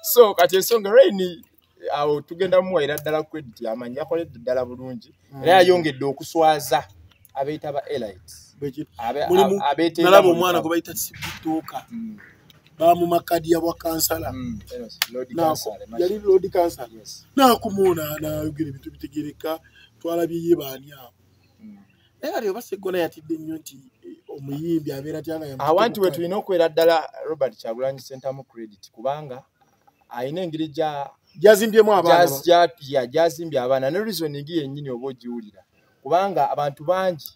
so kati ensonga reni awo tugenda muwaira ddala credit amanyi yakoledde ddala bulungi mm. era yayongedde okuswaza abeeta ba elit abeetenalaba omwana gwe bayita sibituuka mm. bamumakadi ya bwakansala mm, yali lodi kansala nakumuuna nayogera ebintu bitegereka twalabye ye baani awo naye kati oba seggona yatidde nnyo nti eh, omuyimbi abeera tyanga awanti we tulina okubeera ddala robert kyagulanyi sentamu credit kubanga alina engeri gya gyazimbyemu abaanaya gyazimbye abaana ne reasoning yennyini oba ogiwulira kubanga abantu bangi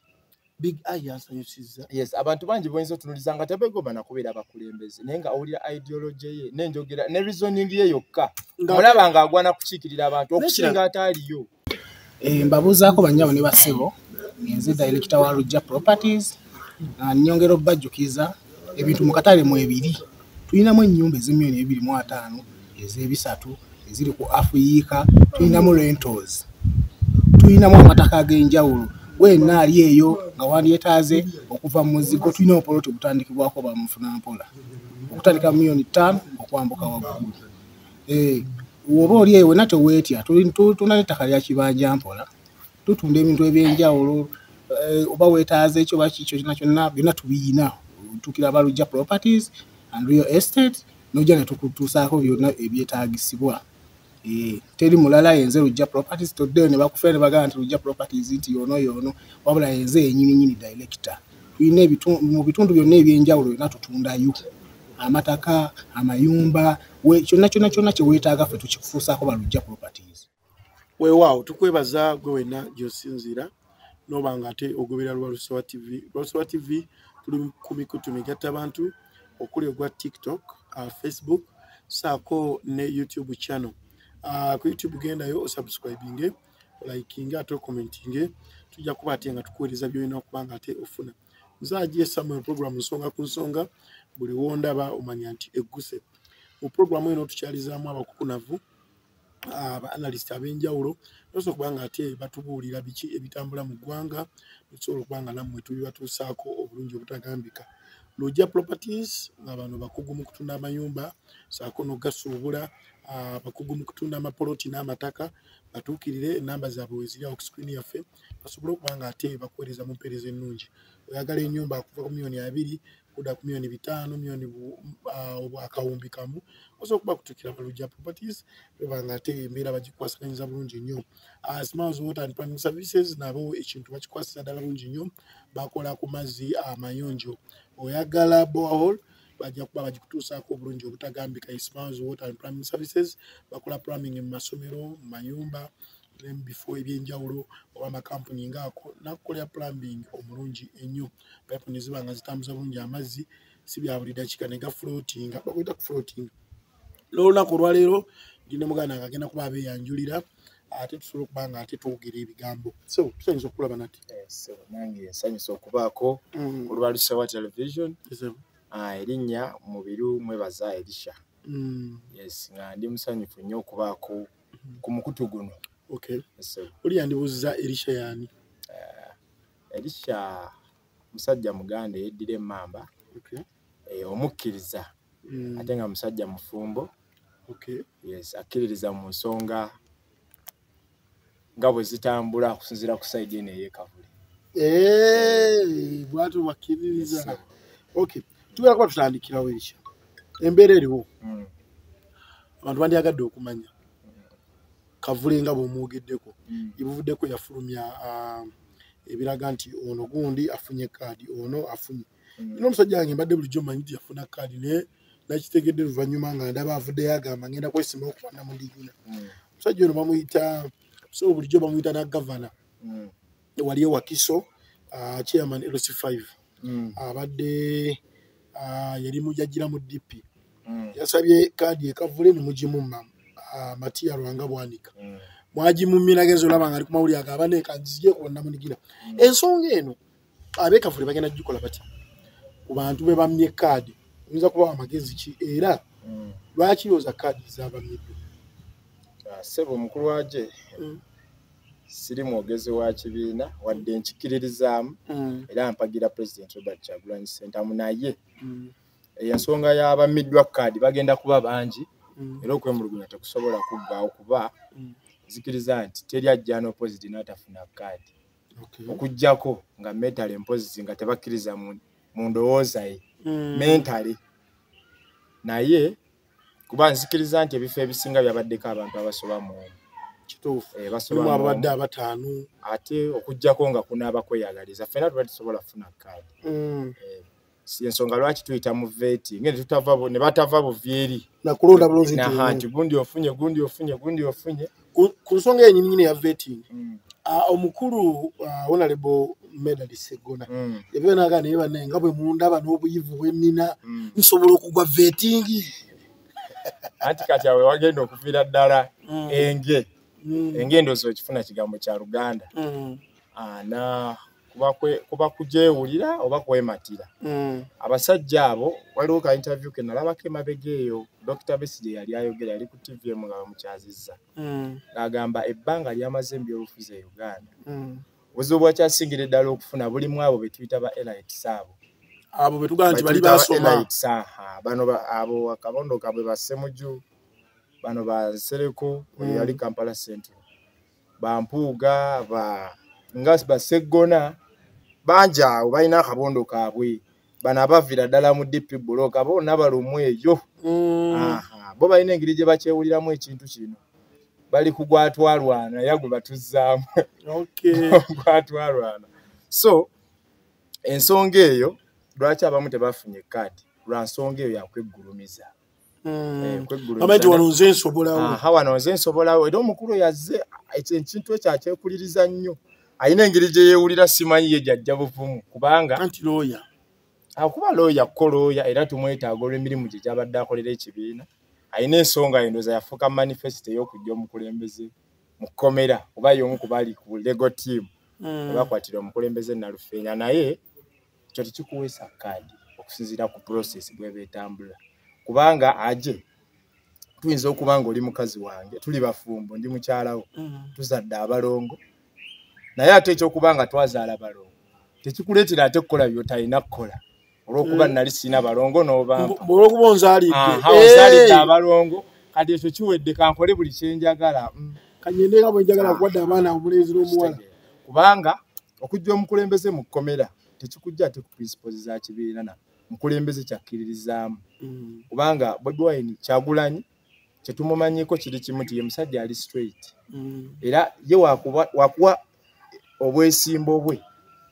big eye yansanyusizza yes abantu bangi boyinza otunuliza nga tebegomba nakubeera abakulembeze naye nga owulira ideology ye nenjogera ne reasoning ye yokka olaba nga agwana kukiikirira abantu okusinga ataaliyo Eh, mbabuuzaako bannyabo ne bassebo nze dayirekita wa lujja properties ah, nyongera okubajjukiza ebintu mu katale mu ebiri tulinamu ennyumba ez'emiliyoni ebibiri mu ataano ez'ebisatu eziri ku afuyiika tulinamu rentals tulinamu amataka ag'enjawulo gwenna ali eyo nga wandyetaaze okuva mu muzigo tulina obupoloti obutandikibwako bamufuna mpola okutandika mu miliyoni ttaano okwambuka waggulu eh, oba oli eyo wena teweetya tulina nettaka lya kibanja mpola tutunda ebintu ebyenjawulo eh, oba wetaaza ekyo bakikyo kyona kyonna byonna tubiyina tukira balujja properties and real estate nojja netukutuusaako byonna ebyetaagisibwa Eh, teri mulala yenze lujja properties toddeyo ne bakufera ne bagamba nti lujja properties nti yoono yoono wabula yenze yenyini nyini director tulina mu bitundu byonna ebyenjawulo yona tutundayo amataka amayumba kyonna kyonna kyonna kyeweetaaga ffe tukikufuusaako balujja properties weewaawo tukwebaza gwe wenna gyosinziira noba nga ate ogoberera lwalusowa tv lwalusowa tv tuli ku mikutu migatta bantu okuli ogwa tiktok uh, facebook saako ne youtube channel uh, ku youtube gendayo osubscribinge olayikinge ate okomentinge tujja kuba ate nga tukuweereza byolina okuba nga ate ofuna nze agie samuel program nsonga ku nsonga buli wondaba omanya nti egguse mu programu eno tukyalizaamu abakukunavu abaanalist ab'enjawulo nosobola okuba nga ate batubuulira biki ebitambula mu ggwanga notusobola okuba nga nammwe tubibatuusaako obulungi obutagambika lugya properties nga bano bakugu mu kutunda amayumba saako nogasuubula abakugu mu kutunda amapoloti n'amataka batuukirire enamba zaabwe weziri awo kusikrini yaffe basobole okuba nga ate bakuweereza mu mpeereza ennungi oyagala enyumba akuva ku miyoni abiri kuda ku miyoni bitaano miyoni akawumbi kamu osobola okuba kutuukira balugya properties eba nga ate embeera bagikwasiranyiza bulungi nnyo ah, smiles water and planning services nabo ekintu bakikwasira ddala bulungi nnyo bakola ku mazzi amayonjo oyagala bohol bajja kuba bagikutuusaako obulungi obutagambika ismans water and plumbing services bakola plumbing mu masomero mu mayumba ne mu bifo ebyenjawulo oba amakampuni ngaako nakukolera plumbing omulungi ennyo pipe ne ziba nga zitambuza bulungi amazzi si bya buli dakiika ne gaflotinga bakuyita kuflotinga n'olunaku olwaleero ndi ne muganda nga agenda kuba abeeyanjulira ate tusobola okuba nga ate twogera ebigambo so tusanyusa okulaba nati eh, nange nsanyusa okubaako mm. olwa lusawa television ah, erinnya mubiru mwebaza erisha mm. yes nga ndi musanyufu nnyo okubaako mm. ku mukutu guno oli yandibuuziza erisha yaani eh, erisha musajja muganda eyeddira emmamba eh, omukkiriza mm. ate nga musajja mufumbo okay. yes akkiririza mu nsonga nga bwe zitambula okusinziira ku saidi eno eyekavule eh, bwatyo bakkiririza okay tugera kuba tutandikirawo ekyo embeera eriwo mm. abantu bandyagadde okumanya kavule nga bwemwogeddeko mm. ebuvuddeko yafulumya ah, ebiraga nti ono gundi afunye kaadi ono afunye mm. omusajja wange mbadde bulijjo manyi nti yafuna kaadi naye nakitegedde luvannyuma nga ndaba avuddeyo agamba ngenda kwesimawo kubana mu ndigina mm. omusajja ono bamuyita so bulijjo bamuyita na gavana mm. wali ewakiso ah, chairman lc 5 mm. abadde ah, yali mujajira mu dp mm. yasabye kaadi ekavule nemugimu mamu Ah, matiya lwanga bwanika mm. mwagimuminagenza olaba nga ali kumawulire agabane kanzije kubannamunigina mm. ensonga eno abekavule bagenda kugikola batya ku bantu be bamye kaadi oyinza kubawa amagezi ki era mm. lwaki looza kaadi zabamyedde ah, sebo omukulu waje mm. siri mwogezi wa kibiina wadde nkikiririzaamu mm. era mpagira president robert kyagulanyi sentamu naye ensonga y'abamiddwa kaadi bagenda kuba bangi era okwemulugunya tekusobola kuggwawo kuba nzikiriza nti teri ajja n'opoziti n'atafuna kaadi okay. okujjako nga mentale mpozi nga tebakkiriza mu ndowooza ye mm. mentale naye kuba nzikiriza nti ebifo ebisinga byabaddeko abantu abasoba mu kituufu eh, abadde abataano ate okujjako nga kunaaba kweyagaliza fena tuba tusobola kufuna kaadi mm. eh. ensonga lwaki tuyita mu veti ngene tutava ne batava buvyeri nakulonda bulunzi nti na hanti gundi ofunye gundi ofunye gundi ofunye ku nsonga yenyini nyine ya veti mm. uh, omukulu uh, honorable medali segona mm. ebyo naga naye bane nga bwe mundaba n'obuyivu bwennina mm. nsobola okugwa vetingi anti kati awe wagenda okuviira ddala mm. enge mm. enge endozi okifuna kigambo kya luganda mm. uh, na kuba kugyewulira oba kwematira hmm. abasajja abo waliwo ka interview ke nalabako emabega eyo dr besi gye yali ayogera yali ku tv emu nga bamukyazizza hmm. ng'agamba ebbanga lyamaze mu byobufuzi e uganda hmm. obuzibu bwakyasingire ddala okufuna bulimu abo be tuyita ba elites abo abo be tugamba nti bali basoma bano abo akabondo kabwe basemuju bano bansereko mm. yali kampala central bampuuga ba nga baseggona bangi awo balina akabondo kaabwe bano abavira ddala mu dp buloka boona balumwa eyo mm. bo balina engeri gye bakyewuliramu ekintu kino bali ku gwatwalwana ya gwe batuzzaamu gwatwalwana so ensonga eyo lwaki abamu tebafunye kaadi lwa nsonga eyo yakweggulumiza hmm. gavumenti wano nze nsowano nze nsobolawo era omukulu yazze ekintu ekyo akyekuliriza nnyo alina engeri gye yeewulira simanyi ye gyajja buvumu kubanga anti looya akuba looya ko looya era tumwetaaga olw'emirimu gye gyabadde akolera ekibiina alina ensonga endoza yafuuka manifesito ey'okujja omukulembeze mu kkomera oba y'omu ku bali ku lego tiimu hmm. abakwatira omukulembeze nalufeenya naye ekyo tekikuweesa kaadi okusinziira ku process bweba etambula kubanga aje tuyinza okuba nga oli mukazi wange tuli bafumbo ndi mukyalawo mm. tuzadde abalongo naye ate ekyokuba nga twazaala balongo tekikuleetera ate kukola byotalina kukola olwokuba mm. nali sirina balongo nobaolwokuba onzalidde eh. abalongo kati ekyo kiwedde kankole buli kyenjagala mm. kanyende nga bwenjagala ah. kuwadde abaana omulenzi n'omuwala kubanga okujja omukulembeze mu kkomera tekikujja ate ku principles za kibiina na mukulembeze kyakkiririzaamu mm. kubanga bobi wine kyagulanyi kyetumumanyiko kiri kimu ti ye musajja ali straight mm. era ye wakuwa obwesimbo bwe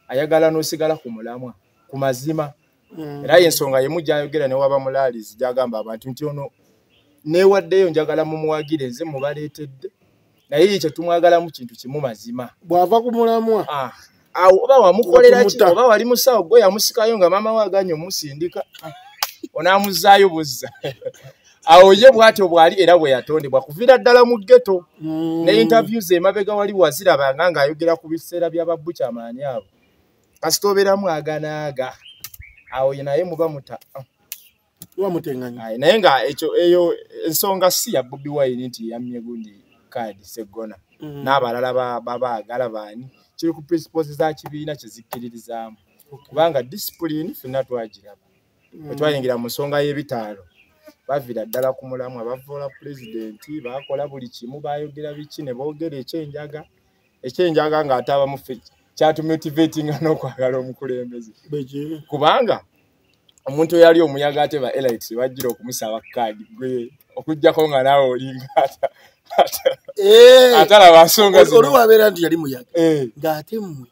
ayagala nosigala ku mulamwa ku mazima mm. era yensonga yemu gyayogera newaba mulaalizi gyagamba abantu nti ono newaddeyo njagala mumuwagire nze mubaleetedde naye ye kyetumwagala mu kintu kimu mazima bwava ku mulamwa ah, awo oba wamukolera ki oba wali musawo gwe yamusikayo nga maama we aganye omusindika ah, onaamuzaayo buzza awo ye bwatyo bwali era bwe yatondebwa kuviira ddala mu geto mm. ne interviews emabega wali wazirabanga ng'ayogera ku biseera bya babbukyamaani abo kasita obeeramu aganaaga awo naye muba muta ah. muba mutenganya naye nga ekyo eyo ensonga si ya bobi wine nti yammye gundi kaadi seggona mm. n'abalala babaagala baani kiri ku principles za kibiina kye zikkiririzaamu kubanga disipulini fenna twagiraba mm. wetwayingira mu nsonga y'ebitaalo bavira ddala ku mulamu abavoola pulezidenti bakola buli kimu bayogera biki ne boogera ekyenjaga ekyenjaga nga ataba mufe kyatu motivating n'okwagala omukulembeze kubanga omuntu eyali omuyaga ate ba elites bajjira okumusaba kaadi gwe okujjako nga naawe olinga eh! atalaba nsonga oliwabeera nti yali muyaga eh. ng'ate mmwe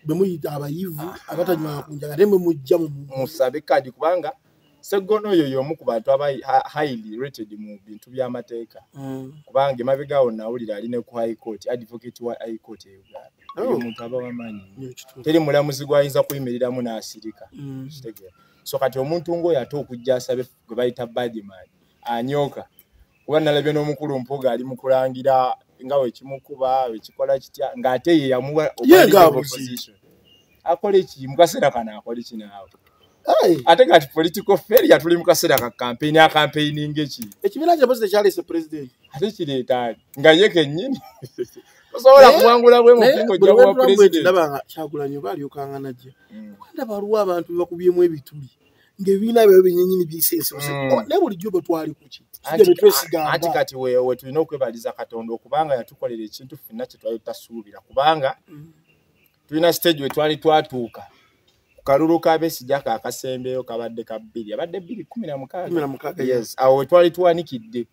bemuyita abayivu abatanywaa kunjaga ate mwe mujja mumusabe kaadi kubanga Seggono oyo y'omu ku bantu aba highly rated mu bintu by'amateeka mm. kubanga emabega awo nawulira ali ne ku high court advocate wa high court e Uganda oh. oyo omuntu aba wamanyi teri mulamuzi gw'ayinza kuyimiriramu n'asirika mm. kitegeera so kati omuntu ng'oyo ate okujja asabe gwe bayita badman anyooka kuba nalabye n'omukulu mpuga ali mu kulangira nga wekimukuba wekikola kitya ng'ate ye yamuwa akola eki mu kaseera kano akola eki naawe ate kati political failure tuli mu kaseera ka kampeyini akampeyini ngeki ekibiina kye bozi tekyaleese pulezidenti ate kireetaani nga ye kennyini osobola eh? kuwangula bwe mukingo gya bwa pulezidenti ndaba nga kyagulanyo baalyokanga najja hmm. kuba ndaba waliwo abantu bebakubyemu ebituli ng'ebibiina byayo byenyenyini bisense mm. oh, naye bulijjo bwe twali kuki anti kati we tulina okwebaliza katonda okubanga yatukolera ekintu fenna kye twali tutasuubira kubanga mm. tulina siteegi we twali twatuuka ku kalulu ka besija ka kasembeyo kabadde ka bbiri abadde bbiri kumi na mukaaga awo we twali tuwanikidde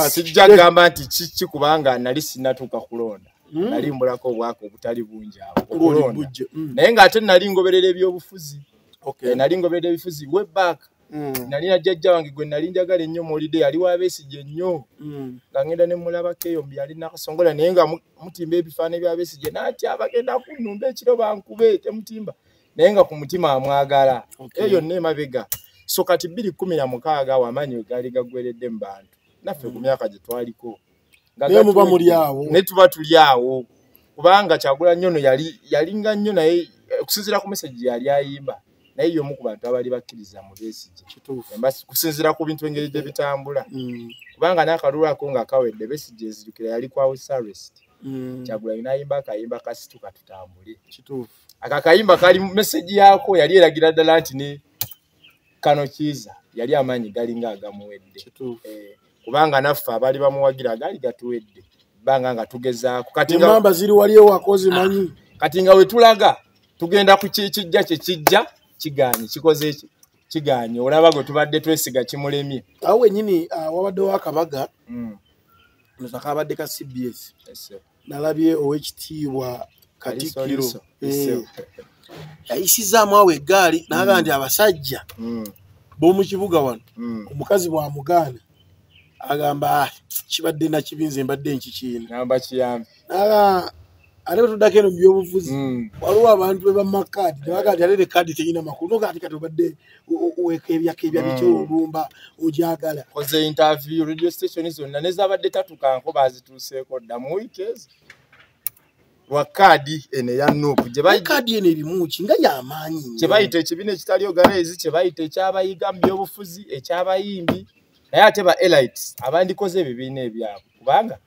sijja gamba nti kiki kubanga nali sinatuuka kulonda mm. nali mbulako obwaka obutali bungi awo okulonda mm. naye ng'ate nali ngoberera ebyobufuzi okay. Eh, nali ngobedde ebifuzi we back mm. nali na jajja wange gwe nali njagala ennyo muwulidde yali wabesigye nnyo mm. nga ngenda ne mulabako eyo mbi yali nakasongola naye nga mutimba ebifaana ebyabesigye natya bagenda kunumba ekiro bankube temutimba naye nga ku mutima amwagala okay. eyo nne emabega so kati bbiri kumi na mukaaga awo amaanyi wegaali gagweredde mu bantu naffe mm. ku myaka gye twaliko naye muba muli awo naye tuba tuli awo kubanga kyagula nnyo no yali yalinga nnyo naye eh, okusinziira ku meseji yali ayimba naye yomu ku bantu abali bakkiriza mu besigye kusinziira ku bintu engeri gye bitambula mm. kubanga n'akalulu ako nga kawedde besigye ezijukira yali kwa wesarest mm. kyagula yinayimba akayimba kasituka tutambule ako akayimba kali meseji yaako yali eragira ddala nti ne kano kiiza yali amaanyi galinga agamuwedde eh, kubanga naffe abaali bamuwagira agaali gatuwedde banga nga tugezaako katimamba ziri wali ewakozi ah, manyi kati nga wetulaga tugenda ku kijja kyekijja kigaanyi kikoze ki kigaanyi olaba gwe tubadde twesiga kimulemye awo wenyini ah, wabaddewo akabaga mm. nzakabadde ka cbs nalabye owekitiibwa katikiro eh. yayisizaamu awo eggaali naga nti mm. abasajja mm. b'omu kibuga wano mm. omukazi bwamugaana agamba ah, kibadde nakibinze mbadde nkikiinaga ate bwetuddako eno mu byobufuzi waliwo abantu bebamakaadi nebagaati ate ne kaadi terina makulu nogaati kati obadde wekebyakebya bitya mm. olumba ojagala oze interview radio station zonna nezabadde tatukanko bazituuseeko dda mu wiiki ezo lwa kaadi eno eya nup kaadi eno erimuki nga yamaanyi kye bayita ekibiina ekitali oganaizi kye bayita ekyabayiga mu byobufuzi ekyabayimbi naye ate ba elites abandikoze ebibiina ebyabwe kubanga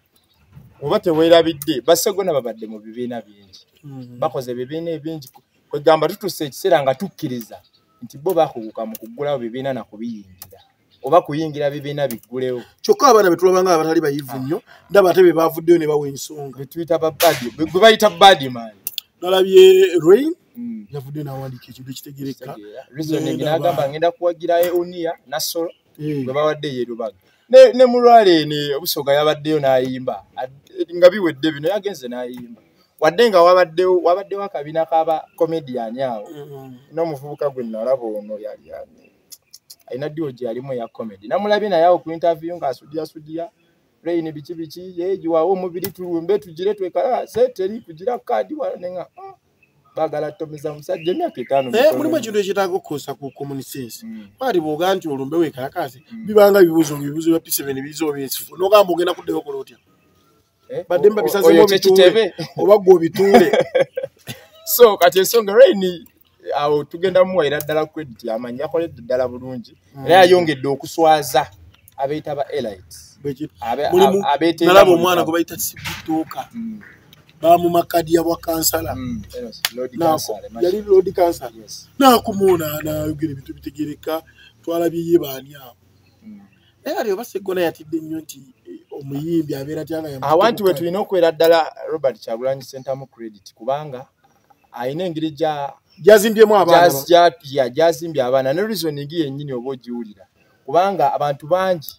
oba tewerabidde basegona babadde mu bibiina bingi mm-hmm. bakoze ebibiina ebingi kwegamba tutusa ekiseera nga tukkiriza nti bo bakuguka mu kuggulawo bibiina na kubiyingira oba kuyingira bibiina biggulewo kyokka abaana betulaba nga abatali bayivu ah. nnyo ndaba ate be bavuddeyo ne bawa ensonga betuyita babadi gwe bayita badi maani nalabye rain mm. yavuddeyo nawandiika ekintu ekitegerekka ngenda kuwagirayo uniya nasolo eh. bwe babadde yerubaga ne mulwale ni obusoga yabaddeyo n'ayimba nga biwedde bino yagenze n'ayimba wadde nga wabaddewo wabaddewo akabina kaba komediyani awo mm-hmm. n'omuvubuka gwe nalaba ono yali alina ddiwo gye yalimu eya komedi namulabye naye awo ku intaviyu ng'asudiyasudiya reyini biki biki yeegiwawo omubiri tulumbe tugire twekalaase teri kugira kaadi wala ne nga mm. bagala tomiza musajja emyaka etaano naye eh, mulimu ekintu ekyetaaga okukozesa ku common sense baali mm. bwoga nti olumbe wekalakaase mm. bibanga ebibuuzo ebibuuzo bya piseveni biiza oba ensifu nogamba ogenda kuddayo okola otya eh, badde mba bisazemu obituule oba gwe obituule so kati ensonga raini awo tugenda muwaira ddala credit amanyi yakoledde ddala bulungi mm. era yayongedde okuswaza abeeta ba elite nalaba omwana gwe bayita sibituuka mm. bamumakadi yabwa kansala mm, yali lodi kansala nakumuuna nayogera ebintu bitegereka twalabye ye baani abo mm. naye ali oba segona yatidde nnyo nti eh, omuyimbi abeera tyangaawantu we tulina okubeera ddala robert kyagulanyi sentamu credit kubanga alina engeri gyazimbyemu abaana gyazimbye abaana ne reasoning yennyini oba ogiwulira kubanga abantu bangi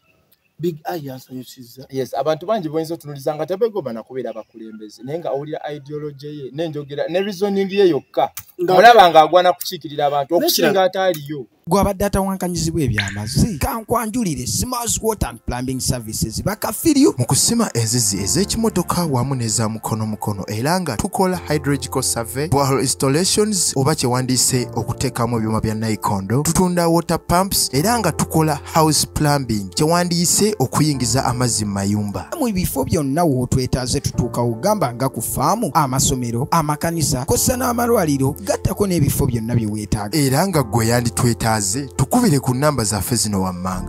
big eye yansanyusizza yes abantu bangi boyinza otunuliza nga tebegomba nakubeera abakulembeze naye nga owulira ideology ye nenjogera ne reasoning ye yokka olaba nga agwana kukiikirira abantu okusinga ataaliyo gwe abadde atawankanyizibwa ebyamazi kankwanjulire smars water and plumbing service services bakafiryu mu kusima enzizi ez'ekimotoka wamu n'eza mukono mukono era nga tukola hydrological survey borehole installations oba kyewandiise okuteekamu ebyuma bya naikondo tutunda water pumps era nga tukola house plumbing kyewandiise okuyingiza amazzi mu mayumba mu bifo byonna wootwetaaze tutuukawo gamba nga ku faamu amasomero amakanisa kossa n'amalwaliro gattako n'ebifo byonna bye weetaaga era nga gwe yanditwetaaze tukubire ku nnamba zaffe zino wammanga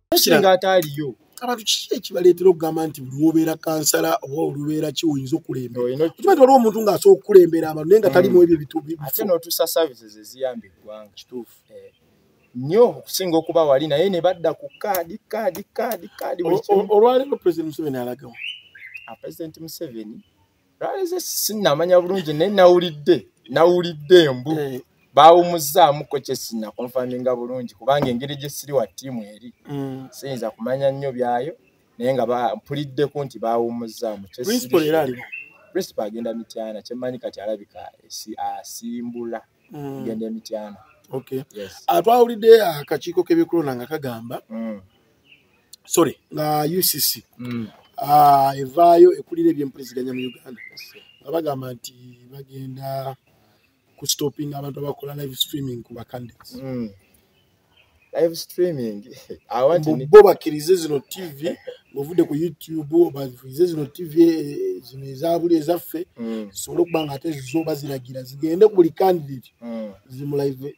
singa ataaliyo abantu kiki ekibaleetera okugamba nti buli wobeera kansala oba olubeera ki oyinza okulembeokimanyi ti waliwo omuntu ng'asobola okukulembera abantu naye nga talimu mm. ebyo bituate notusa services eziyamba eggwanga kituufu eh. nyo okusinga okuba wali naye ne badda ku kaadi kaadi kaadi kaadi olwaleero president museveni alagamu ah, president museveni lwaleze sinamanya bulungi naye nawulidde nawulidde embu eh. bawumuzaamuko kyesina konfaminga bulungi kubanga engeri gyesiri wa tiimu eri mm. siyinza kumanya nnyo byayo naye nga mpuliddeko nti bawumuzaamu principal agenda mityana kyemanyi kati alabika asimbula mm. agenda emityana ah, twawulidde akakiiko k'ebyokulonda nga kagamba mm. sorry nga ucc mm. ah, evaayo ekulira ebyempuliziganya mu uganda nga bagamba nti bagenda ku stopping abantu abakola live streaming ku bacandidates mm. live streaming bo bakirize zino tv bovudde ku youtube bakirize zino tv eh, zino ezabuli ezaffe mm. zisobole okuba nga ate zoba ziragira zigende ku buli candidate mm. zimulaive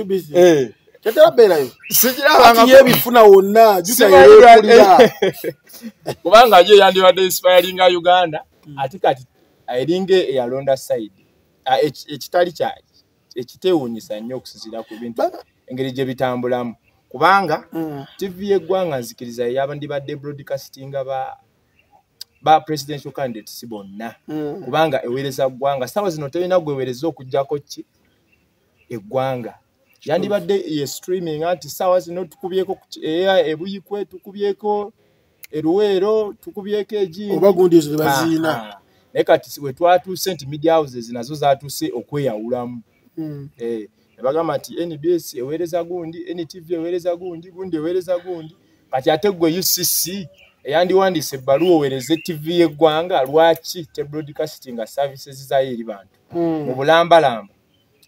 UBC. Eh. Tetera beerayo. Sikiraba nga yebifuna wonna jutayekulira. Kubanga ye yandibadde inspiring Uganda hmm. ati kati eringa eyalonda side ah, ekitali kya ekitewunyisa nnyo okusinzira ku bintu engeri gye bitambulamu kubanga hmm. TV y'eggwanga nzikiriza yabandibadde broadcastinga ba ba presidential candidates si bonna hmm. kubanga eweereza ggwanga saawa zino tolina gweweereza okugyako ki eggwanga yandibadde ye streaming nti saawa zino tukubyeko eya ebuyikwe tukubyeko eruweero tukubyeko egiioba gundi ezo tebaziina ah, ah. naye kati we twatuuse nti media houses nazo zatuuse okweyawulamu hmm. eh, ne bagamba nti nbs eweereza gundi ntv eweereza gundi gundi eweereza gundi kati ate gwe ucc eyandiwandiisa ebbaluwa owereze tv y'eggwanga lwaki tebrodcastinga services zayo eri bantu hmm. mu bulambalamba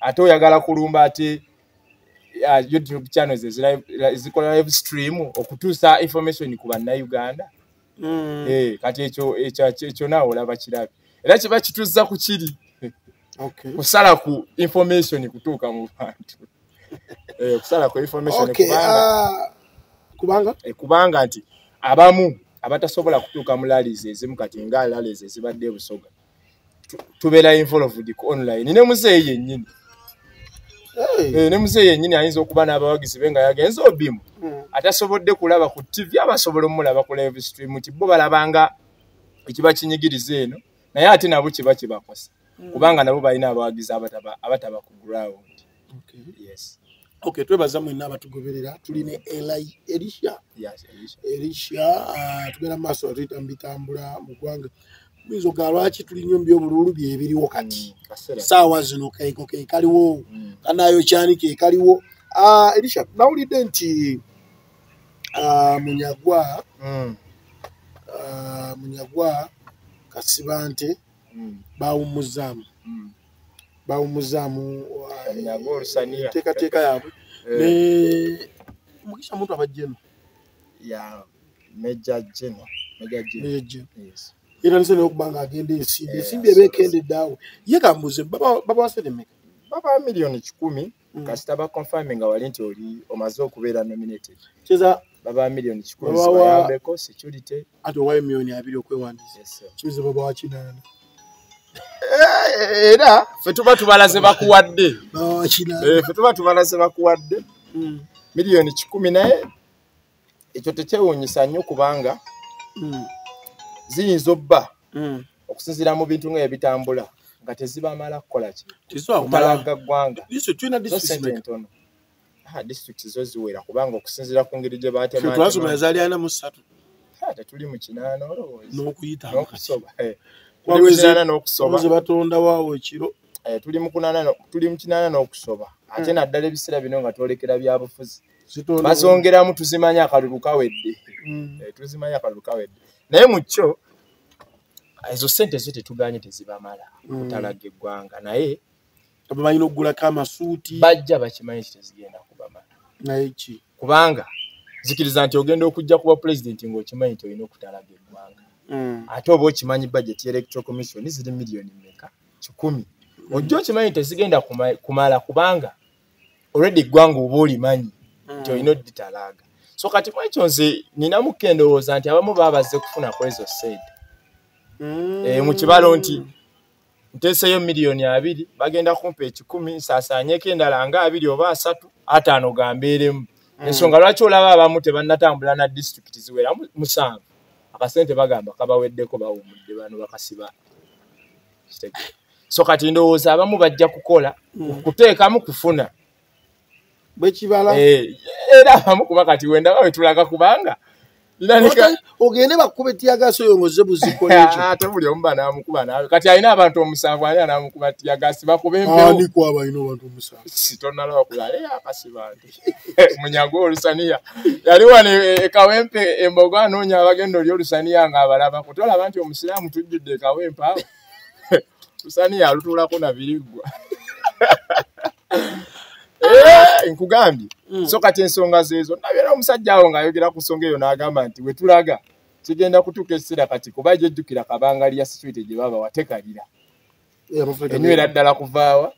ate oyagala kulumba ate uh, youtube channels ezikola live stream okutuusa information ku bannayuganda mm. eh, kati ekyo ekyo naawe olaba kirabi era kiba kituzza ku kiri okay. kusala ku information kutuuka mu bantu eh, kusala ku information okay, kubanga, uh, kubanga? Eh, kubanga nti abamu abatasobola kutuuka mu lalizi ezimu kati nga lalizi ezibadde ebusoga tubeera involved ku online ne muzeeyi yennyini eh, ne muzeeyi yennyini ayinza okuba n'abawagizi be nga yagenze obimu hmm. atasobodde kulaba ku tv abasobola omulaba ku live stream nti bo balabanga ekiba kinyigiriza eno naye ate nabo kiba kibakosa hmm. kubanga nabo balina abawagizi abataba ku ground okay. yes. okay, twebaza mwena abatugoberera tuli ne eli elisha yes, elisha uh, ah, tugenda mu maaso atuyita mu bitambula mu ggwanga bizo ga lwaki tuli nyo mbyo bululu bye biriwo kati mm, sawa zino kaiko ke kaliwo mm. kanayo chani ke kaliwo ah elisha na uli denti ah munyagwa mm. ah munyagwa kasibante mm. bawumuzaamu mm. bawumuzaamu uh, enteekateeka yaabwe eh. ne mukisha muntu abajjeno ya meja jeno meja jeno era nze naye okuba nga agenda ensimbi ensimbi ebeekendedde awo ye kambuze baba waseremeka baba miliyoni kikumi mm. kasita ba confirming nga wali nti oli omaze okubeera nominated kiza baba million kikulu bayambeko security ati owayo million abiri okwewandiisa kiza baba wa kinaana eh, era fe tuba tubala ze bakuwadde eh, fe tuba tubala ze bakuwadde mm. million kikumi naye ekyo tekyewunyisa nnyo kubanga mm. ziyinza obba mm. okusinzira mu bintu nga ebitambula nga tezibamala kukola kitalaga ggwanga entono ah, district zo ziwera kubanga okusinzira ku ngeri gye batematuli mu kinaana olowoozaokusoba eh. batonda waawo ekiro eh, tuli mu kinaana n'okusoba ate hmm. naddala ebiseera bino nga twolekera byabufuzi bazongeramu tuzimanya akalulu kawedde mm. eh, tuzimanya akalulu kawedde naye mu kyo ezo sente zo tetuganye tezibamala mm. kutalaga eggwanga naye babalina okugulako amasuuti bajja bakimanyi kitezigenda kubamala naye ki kubanga zikiriza nti ogenda okujja kuba pulezidenti ngaokimanyi nti olina okutalaga eggwanga mm. ate oba okimanyi bajeti electoral commission ziri miliyoni meka kikumi ojja okimanyi tezigenda kumala kubanga already eggwanga oba olimanyi nti mm. olina oditalaaga so kati mwekyo nze ninamu kendowooza nti abamu babazze kufuna kwezo said mm. eh, mu kibalo nti nteeseyo miliyoni abiri bagenda kumpa ekikumi nsaasaanyeko endala nga abiri oba asatu ataano gambeeremu mm. ensonga lwaki olaba abamu tebannatambula na disitulikiti ziwera musanvu akasente bagamba kabaweddeko bawumudde bano bakasiba so kati ndowooza abamu bajja kukola mm. kuteekamu kufuna bwekibala eh, era abamu kuba kati wendaba wetulaga kubanga ogende bakuba etiyagaasi oyo ngoze buzikolate buli omu banamukuba nawe kati alina abantu omusanvu ani anamukuba tiyagaasi bakuba empewo ani kwaba alina abantu omusanvu sitonalaba kulala eyo akasibantu munyago olusaniya yali wano ekawempe e, e embogo anoonya abagenda oli olusaniya nga abalaba kutolaba nti omusiraamu tujjudde ekawempe awo lusaniya alutuulako nabiriggwa eh, nkugambye mm. so kati ensonga zeezo nabeera omusajja awo ng'ayogera ku nsonga eyo n'agamba nti wetulaga kigenda kutuuka ekiseera kati kuba gyejjukira kabangali ya situite gye baba watekalira enywera ddala kuvaawa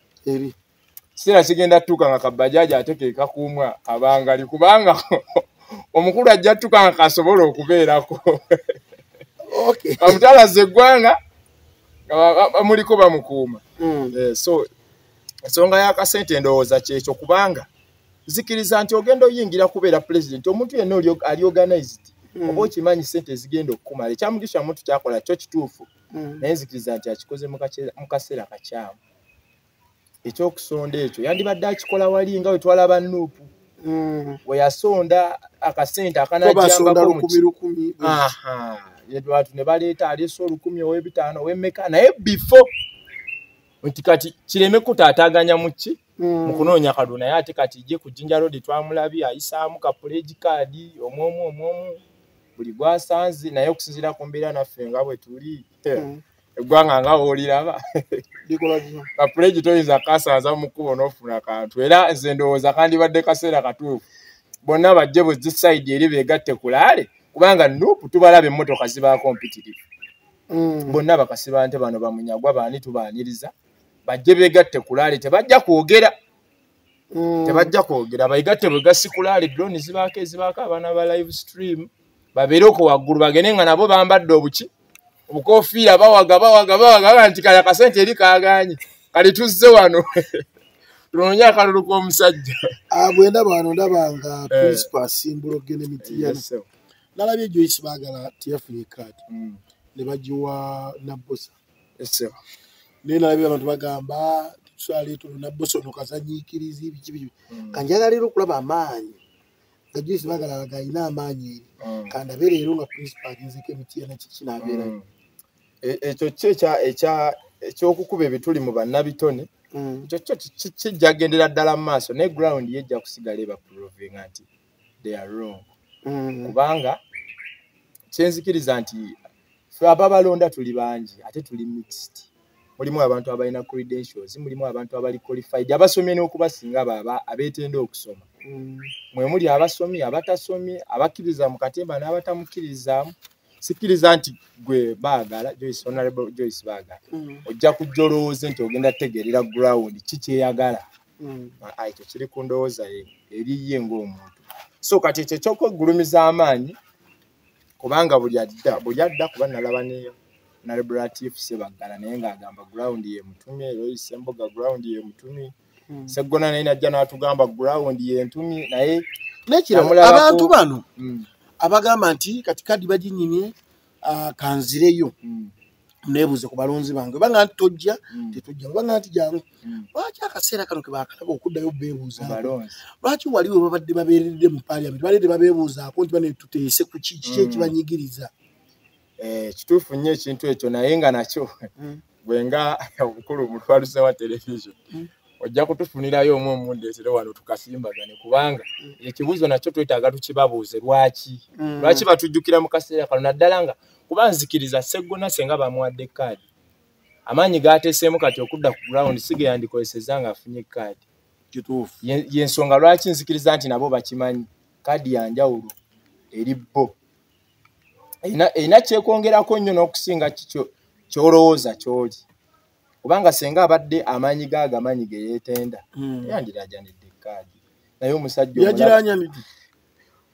kiseera kigenda tutuuka nga kabajaaji ate kekakuumwa abangali kubanga omukulu ajja tutuuka nga kasobola okubeerako bamutalaza eggwanga bamuliko bamukuuma hmm. eh, so ensonga yakasente endowooza kyekyo kubanga zikiriza nti ogenda oyingira kubeera pulezidenti omuntu yenna ali organized hmm. oba okimanyi sente ezigenda okukumala ekyamugisha muntu kyakola kyo kituufu hmm. naye nzikiriza nti akikoze mu kaseera kakyamu ekyokusonda ekyo yandibadde akikola wali nga wetwalaba nuupu mm. weyasonda akasente akanajambakolukumi abantu ne baleeta aleese olukumi ow'ebitaano ow'emmeka naye bifo nti kati kireme kutaataaganya mu ki mm. mu kunoonya kalulu naye ate kati ye ku jinja road twamulabi ayisaamu kapuleegi kaadi omwomu omwomu buli gwasanze naye okusinziira ku mbeera naffe nga bwe tuli mm. eggwanga nga wooliraba kapulegi toyinza kasanza mu kkubo n'ofuna kantu era nze ndowooza kandibadde kaseera katuufu bonna bajje bwezi sayidi eri beegatte kulaale kubanga nupu tubalaba emmotoka zibaako mpitirivu mm. bonna bakasiba nte bano bamunyagwa baani tubaaniriza bajje beegatte kulaale tebajja kwogera mm. tebajja kwogera bayigatte bwe gasikulaali drone zibaako ezibaako abaana ba live stream babeere oko waggulu bagende nga nabo bambadde obuki obukofiira bawaga bawaga bawaga aga nti kaya kasente eri kaganye kali tuzze wano tunonye akalulu k'omusajja ah, bwenda bano ndabanga eh. principal asimbula okugenda emitiyana nalabye ejoyisi bagala tiyafunye kaati mm. ne bagiwa nabbosa naye nalabye abantu bagamba tuswale tulina bosono kazanyikirizi biki biki hmm. kanjagala leero okulaba amaanyi nga juisi bagala laga alina amaanyi eri hmm. kandabe leero nga principal agenzeko emitiyana kiki nabeera hmm. e, ekyo ki ekyokukuba ebituli mu bannabitone kyokyo kijjagendera ddala mu maaso naye ground yejja kusigala ebaprovinga nti they are wrong mm. kubanga kyenzikiriza nti fe ababalonda tuli bangi ate tuli mixed mulimu abantu abalina credentials mulimu abantu abali qualified abasomye n'okubasinga baba abeetenda okusoma mm. mwe muli abasomye abatasomye abakkiriza mu katemba n'abatamukkirizamu sikkiriza nti gwe baagala joyce honorable joyce baagala mm. ojja kujja olowooze nti ogenda tegeerera ground ki kyeyagala mm. mm. ekyo kiri ku ndowooza ye eriye ng'omuntu so kati ekyo ekyokwegulumiza amaanyi kubanga buli adda buli adda kuba nalaba ne nalibulatif sebaggala naye ng'agamba gurawundi yemutumye era oyise embuga gurawundi yemutumye mm. seggona naye najja n'atugamba gurawundi yentumye naye abantu bano mm. abagamba nti kati kadi baginyimye ah, kanzireyo nebuuze ku balonzi bange oba nga nti tojja mm. tetujja oba nga nti jangu mm. lwaki akaseera kano ke bakalaba okuddayo beebuuza lwaki wali we babadde babeeredde mu paliament baledde babeebuuzaako nti bane tuteese ku ki kiki mm. ekibanyigiriza eh, kituufu nnyo ekintu ekyo naye nga nakyo gwe nga obukulu omutwaluze wa television ojja kutufunirayo omu omundeetere wano tukasimbagane kubanga ekibuuzo nakyo twetaaga tukibabuuze lwaki lwaki batujjukira mu kaseera kano naddala nga mm. kuba nzikiriza seggona senga bamuwadde kaadi amaanyi gaateseemu kati okudda ku ground sige yandikozesezza ng'afunye kaadi kituufu yensonga lwaki nzikiriza nti nabo bakimanyi kaadi yanjawulo eri bo erina kyekwongerako nnyo n'okusinga kikyo kyolowooza kyoli kubanga senga abadde amaanyi ga agamanyi ge yeetenda hmm. yandirajanidde kaadi naye omusajja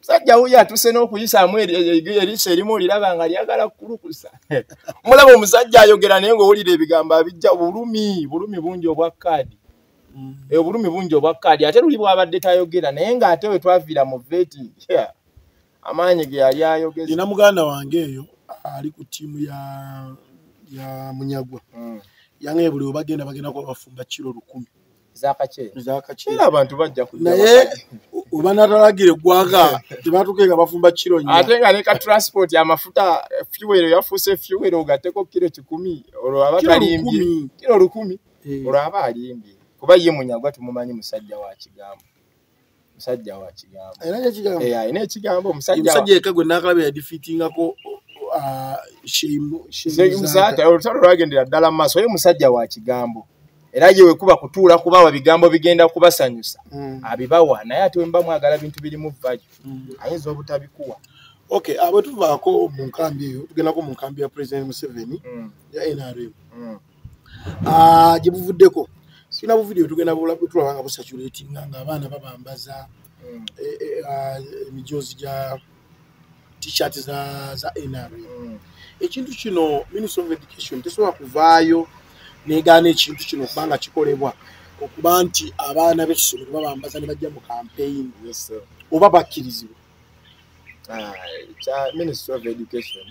musajja wuyo atuse n'okuyisaamu eriiso erimu oliraba nga lyagala kukulukusa mulaba omusajja ayogera naye ngaowulira ebigambo abijja bulumi bulumi bungi obwa kaadi mm. eh, obulumi bungi obwa kaadi ate luli bwabadde tayogera naye ng'ate we twaviira mu veti amaanyi ge yali ayogeza ina muganda wange eyo ali ku ttiimu ya ya munyagwa mm. yange buli webagenda bagenda kuba bafumba kiro lukumi era abantu bajja naye oba natalagira eggwanga tebatuke nga bafumba kiro nyo ate nga neka transport amafuta fuwero yafuuse fuwero ogateko kiro kikumi olwo aba talimbye kiro lukumi eh. olwo aba alimbye kuba ye munyagwa tumumanyi musajja wa kigambo musajja wa kigambo era ne kigambo eh ine kigambo musajja musajja yeka gwe nakalabe ya defeating ako ah, shimu shimu musajja olutalo lwagendera dala maso ye musajja wa kigambo era ye wekuba kutuula kubawa bigambo bigenda kubasanyusa mm. abibawa naye ati wemba mwagala bintu biri mu vaji mm. ayinza obutabikuwa okay abatuvaako mu nkambi eyo tugendako mu nkambi ya president museveni mm. ya nrm mm. ah, gye buvuddeko sirina buvidiyo tugenda tulaba nga busaturatinga nga abaana babambaza hmm. eh, eh, ah, emijoozi gya t-shirt za za nrm hmm. ekintu kino minister of education tesobola kuvaayo negaana ekintu kino kubanga kikolebwa okuba nti abaana b'essomero babambaza ne bajja mu kampeyini oba bakkirizibwa ah, kya ministry of education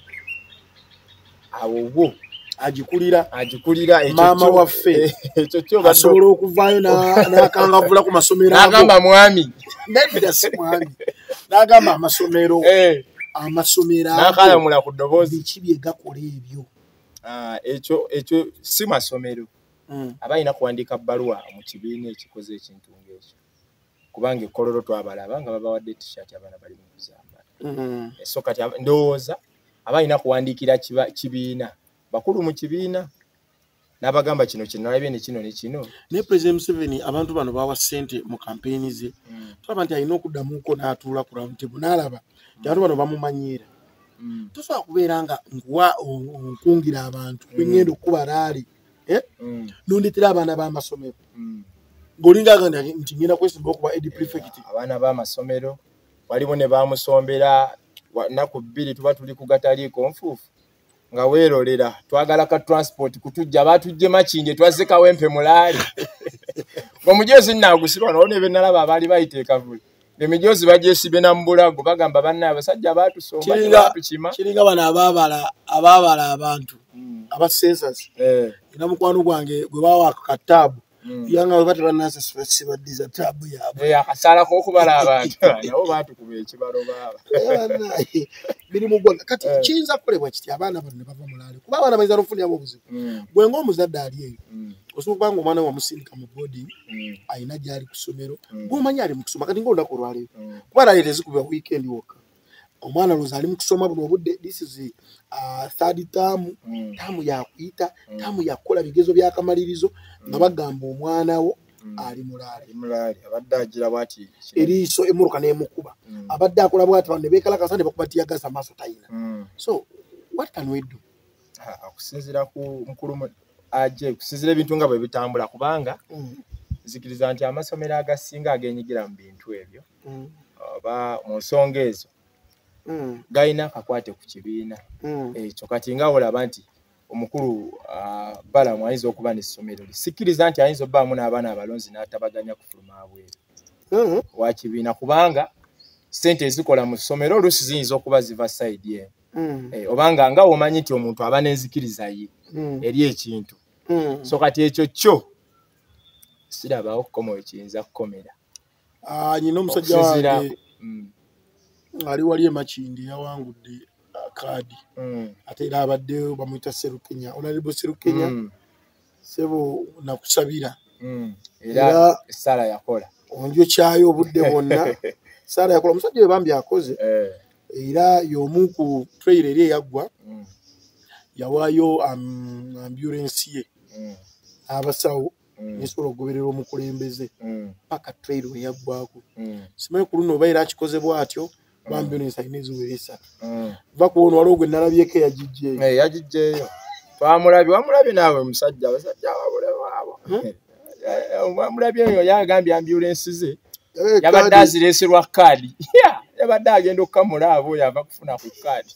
awo wo agikulira agikulira maama waffe ekyo kyo asobola okuvaayo n'akangavula ku masomero agamba mwami nedda si mwami n'agamba amasomero eh. amasomero nakalamula ku ddoboozi biki bye gakola ebyo ah, ekyo ekyo si masomero hmm. aba alina kuwandiika bbaluwa mu kibiina ekikoze ekintu ng'ekyo kubanga ekololo twabalaba nga babawadde t-shirt abaana bali mu kuzambala mm-hmm. eh, so kati ndowooza aba alina kuwandiikira kibiina bakulu mu kibiina n'abagamba kino kinalabye ne kino ne kino naye president museveni abantu bano bawa ssente mu kampeyini ze mm. tulaba nti alina okuddamuko n'atuula ku rawuntebu n'alaba nti abantu bano bamumanyiira mm. tosobola kubeera nga nkuwa nkungira abantu mm. bengenda okukuba raali eh? mm. nondetera abaana b'amasomero mm. ng'olinga aganda nti ngenda kwesimba okuba edi prefect abaana b'amasomero waliwo ne bamusombera naku bbiri tuba tuli ku gataliiko nfuufu nga weerolera twagala ka transport kutujja batujje makinje twazze kawempe mulaali omujoozi nnaagusirwa nawo ne benalaba abaali bayita ekavule emijoozi bagyesibe na mubulago bagamba banna abasajja baatusomakiringa bano ababala ababala abantu hmm. abasensas eh. ina mukwano gwange gwe bawa kataabu hmm. yanga bwe bataba nasasibaddiza taabu yaabwe eh, akasalako okubala abantu nabo baatukuba ekibalo baaba eh, mirimu gwonna kati kiyinza kukolebwa kiti abaana bano ne bava mulaali kuba abaana bayinza nokufuniramu obuzibu hmm. gwe ngaomuzadde ali eyo osobola okuba nga omwana wamusindika mu boarding mm. alina gyali ku ssomero mm. gwomanyi ali mu kusoma kati nga olunaku olwaleero mm. kuba lale tezikuba weekend wokka omwana lwozi ali mu kusoma buno obudde this is uh, third term term yakuyita term yakukola bigezo byakamalirizo nga bagamba omwana wo ali mulaali abadde agira bwati eriiso emuruka nemukuba abadde akola bwati bano nebekalakasa nebakubatiagaza amaaso tayina so what can we do okusinzira ku mukulu aje okusinzira ebintu nga bwe bitambula kubanga mm. nzikiriza nti amasomero agasinga agenyigira mu bintu ebyo mm. oba mu nsonga ezo mm. galina akakwate ku kibiina ekyo kati nga olaba nti omukulu ah, balamu ayinza okuba n'essomero lye sikkiriza nti ayinza obaamu n'abaana abalonzi n'atabaganya kufuluma abweru wakibiina kubanga sente ezikola mu ssomero oluusi ziyinza okuba ziva sayidi eno mm. eh, obanga nga womanyi nti omuntu aba nenzikiriza ye mm. eri ekintu mm. so kati ekyo kyo sirabawo kukoma wekiyinza kukomera ah, nyina omusajja wange mm. ali wali emakindi yawangudde ah, kaadi mm. ate era abadde bamwita serukenya onalebo serukenya mm. sebo nakusabira mm. era sala yakola onjo kyayo obudde bwonna sala yakola omusajja webambi akoze eh. era yomu ku trail eri eyaggwa mm. yawaayo um, ambulensi ye mm. abasawo mm. nesobola okugoberera omukulembeze paka trail weyaggwako simanyi ku luno oba era akikozebwa atyo bambi ono ensayina eziwera esatu mm. va ku ono waliwo gwe nalabyeko eyagijjeeyo eh, yagijjeeyo twamulabye wamulabye naawe omusajja abasajja wabulewaabo hmm? eh, eh, wamulabye oyo yagambye ambulensi ze yabadde azireese lwa kaadi yabadde agenda okukamula abo oyo ava kufuna ku kaadi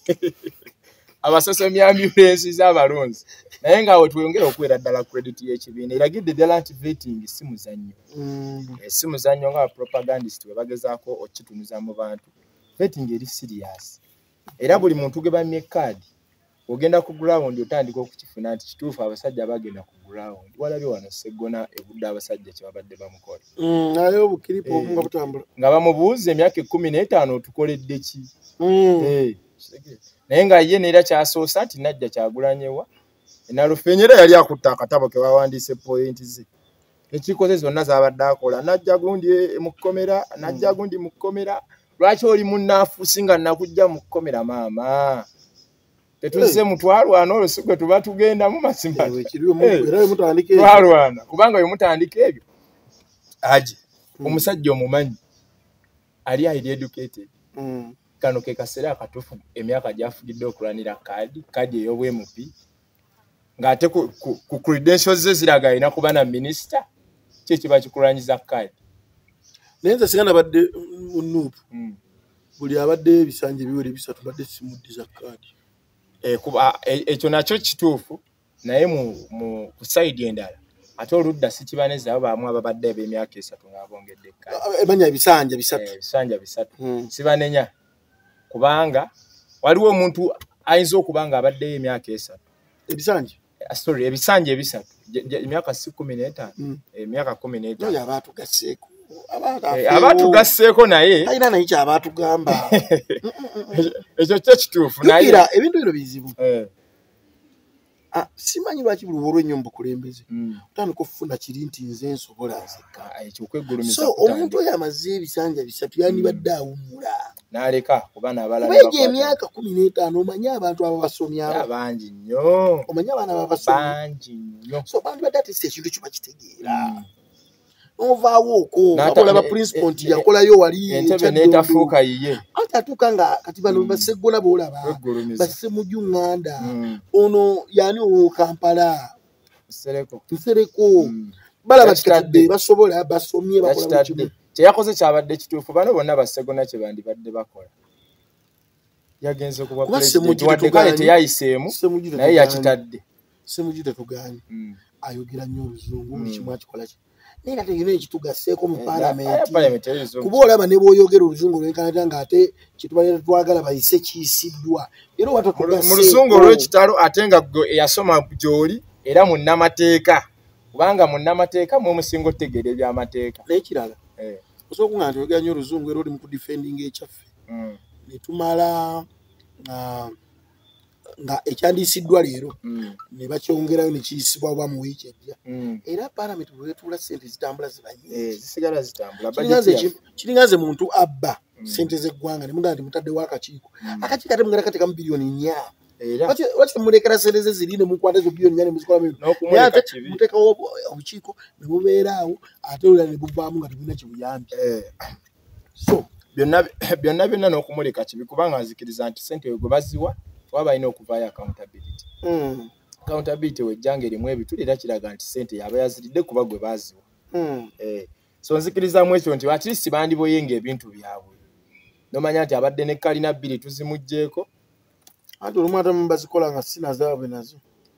abasosomi ambulensi z'abalonzi naye nga awo tweyongere okuweera ddala credit y'ekibiina eragidde ddala nti vetting si muzannyo mm. eh, si muzannyo nga bapropagandist we bagezaako okukitunuza mu bantu vetting eri serious era buli muntu ge bamye kaadi ogenda ku ground otandika okukifuna nti kituufu abasajja bagenda ku ground walabye wano seggona ebudde abasajja kyebabadde bamukola mm, naye obukiripo eh, nga butambula nga bamubuuza emyaka ekkumi n'etaano otukoledde ki mm. eh. naye nga ye neera kyasoose nti najja kyagulanyewa enalufenya era yali akutta akatabo kewawandiise pointi ze ekikoze zonna zabadde akola najja gundi e, mu kkomera najja hmm. gundi mu kkomera lwaki oli munafusi nga nakujja mu kkomera maama tetuzze mutwalwana olwo sigwe tuba tugendamu mazimatwalwana eh, kubanga wemutandika ebyo aje hmm. omusajja omumanyi ali highly educated mm. kano ke kaseera akatuufu emyaka gyafugidde okulwanira kaadi kaadi ey'obwmp ng'ate ku, ku, ku credentials ze ziraga alina kuba na minisita ki ekiba kikulwanyiza kaadi naye nze singa nabadde munuupu mm. buli abadde ebisanja ebiwere bisatu badde simuddiza kaadi eh, eh, ekyo nakyo kituufu naye mu ku sayidi endala ate oludda sikibanezi abo baamu ababadde ab'emyaka esatu ng'abongedde ekkaemanya eh, ebisanja bisatu eh, ebisanja bisatu hmm. sibanenya kubanga waliwo omuntu ayinza okuba ng'abaddeyo emyaka esatu ebisanja eh, sorry ebisanja ebisatu emyaka si kumi n'etaano hmm. emyaka kumi n'etaano aba atugasseeko aba atugasseeko naye alina naye kyaba atugamba ekyo kyo kituufu naye ebintu bino bizibu Ah, simanyi lwaki buli wolwa ennyo mubukulembeze mm. otandika okufuna kiri nti nze nsobola nzekka ah, omuntu oyo amaze ebisanja bisatu yandibadde mm. awummula naleka kubanabalaegyo emyaka kumi n'etaano omanye abantu abo basomyabangi nnyo omanye abaana babasobangi nnyo so bandibadde ati si ekintu kiba kitegeera mm. novaawo okoolaba principal e- nti e- yakolayo wali netafuuka yiye ate atuuka nga kati bano mm. basegola boolaba basse muju ŋŋanda mm. ono yani owo kampala nsereko mm. balaba kitadde basobola basomye bakola teyakoze kyabadde kituufu bano bonna basegona kyebandibadde bakola yagenze kubwa president wadde kale teyayiseemu naye yakitadde semuju tetuganye mm. ayogera nnyo oluzungu buli mm. kimu akikola ki naye nga tegina ekitugaseeko mu eh, palamenti eh, kuba olaba ne bwoyogera oluzungu lwenkanata nga ate kyetubalira twagala bayise kiyisiddwa era mu luzungu olwekitalo ate nga gwe eyasoma gyoli era munnamateeka kubanga munnamateeka mwemusinga otegeera ebyamateeka naye kirala eh. osobola kuga nti oyogera nnyo oluzungu era oli mu kudifendinga ekyaffe mm. ne tumala uh, nga ekyandiyisiddwa leero mm. ne bakyongerayo ne kiyisibwa oba mu wiiki ejja mm. era palamenti bwe betuula sente zitambula zibayisigala eh, zitambulakiringa nze muntu abba mm. sente z'eggwanga ne mugamba nti mutaddewo akakiiko akakiiko ate mugala katekamu biliyoni nya lwaki mulekera sente ze ziri ne mukwata ezo biliyoni nya ne muzikolamuate muteekawo obukiiko ne bubeeraawo ate olula ne buvaamu nga tebulina kibuyambi eh. so byonna byonna byonna n'okumuleka kibi kubanga nzikiriza nti sente we gwe baziwa kuba balina okuvaayo accountability hmm. accountability wejjanga erimu ebituli era kiraga nti sente yaba yaziridde kuba gwe baziwa hmm. eh, so nzikirizamu ekyo nti atlist bandiboyenga ebintu byabwe nomanya nti abadde ne kalina bbiri tuzimugjeeko anti olumu ate mubazikola nga sinazaabwe nazo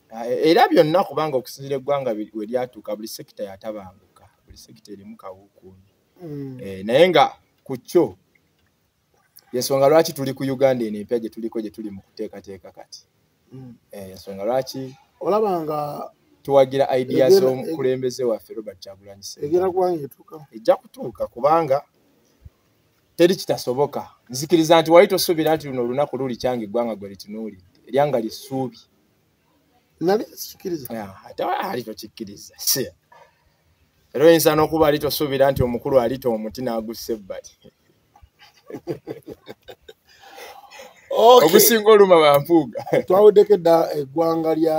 ah, e, era byonna kubanga okusinzira eggwanga we lyatuuka buli sekita yatabanguka buli sekita erimu kawukuuni mm. eh, naye nga ku kyo yensonga lwaki tuli ku uganda eno empya gye tuliko gye tuli mu kuteekateeka kati mm. eh, yensonga lwaki olaba nga tuwagira idea z'omukulembeze waffe robert kyagulanyi ejja kutuuka kubanga teri kitasoboka nzikiriza nti wali tosuubira nti luno olunaku luli kyange eggwanga gwe litunuulidde eryanga lisuubi nali kikiriza ate ali tokikiriza era oyinza n'okuba ali tosuubira nti omukulu alita omuti n'agussa ebbali ogusinga oluma bampuuga twawuddeko edda eggwanga lya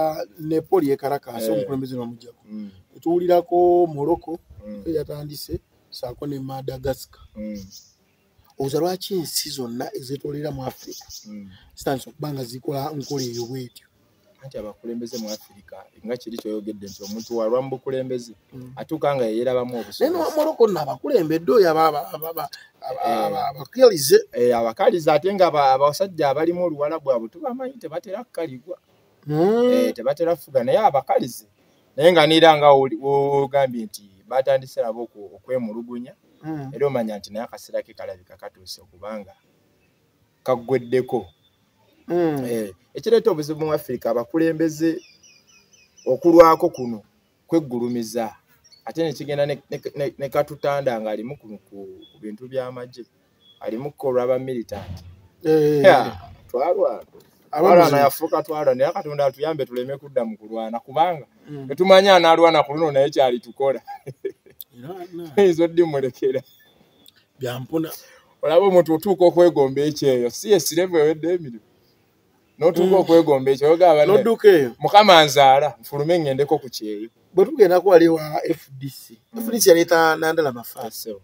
nepo lyekalakaasa eh. omukulembeze nomujjako mm. tuwulirako morocco mm. yatandise saako ne madagascar mm. oza lwaki ensi zonna ezetolera mu afirika hmm. zitandisa okuba nga zikola nkola eyo bwetyo anti abakulembeze mu afirika nga kiri kyoyogedde nti omuntu walwa mu bukulembeze hmm. atuuka nga yeyerabamu obusobozinomoroko no abakulembedde oyo abakalize eh. eh, abakalize ate nga abasajja abalimu oluwala bwabwe tubamanyi tebatera kukaligwa hmm. eh, tebatera kufuga naye abakalize naye nga neera nga wogambye nti batandise abo okwemulugunya hmm. era omanya nti naye akaseera ke kalabika katuuse okubanga kaggweddeko hmm. eh, ekireeta obuzibu mu afirika abakulembeze okulwako kuno kweggulumiza ate nekigenda nekatutanda ngaalimu ku bintu by'amagye alimukko olwaba militant eh. twalwana alwana yafuuka twalwa naye katonda atuyambe tuleme kudda mu kulwana kubanga mm. tetumanyi anaalwana ku luno naye kyali tukola eyinza oddimulekera byampuna olaba omuntu otuuka okwegomba ekyeyo si esirevu ewedde emirimu notuuka mm. okwegomba ekyo oyogabanodduka eyo mukama nzaala nfulume ngendeko ku kyeyo bwe tugendako wali wa fdc mm. fdc yaleeta nandala mafaaseo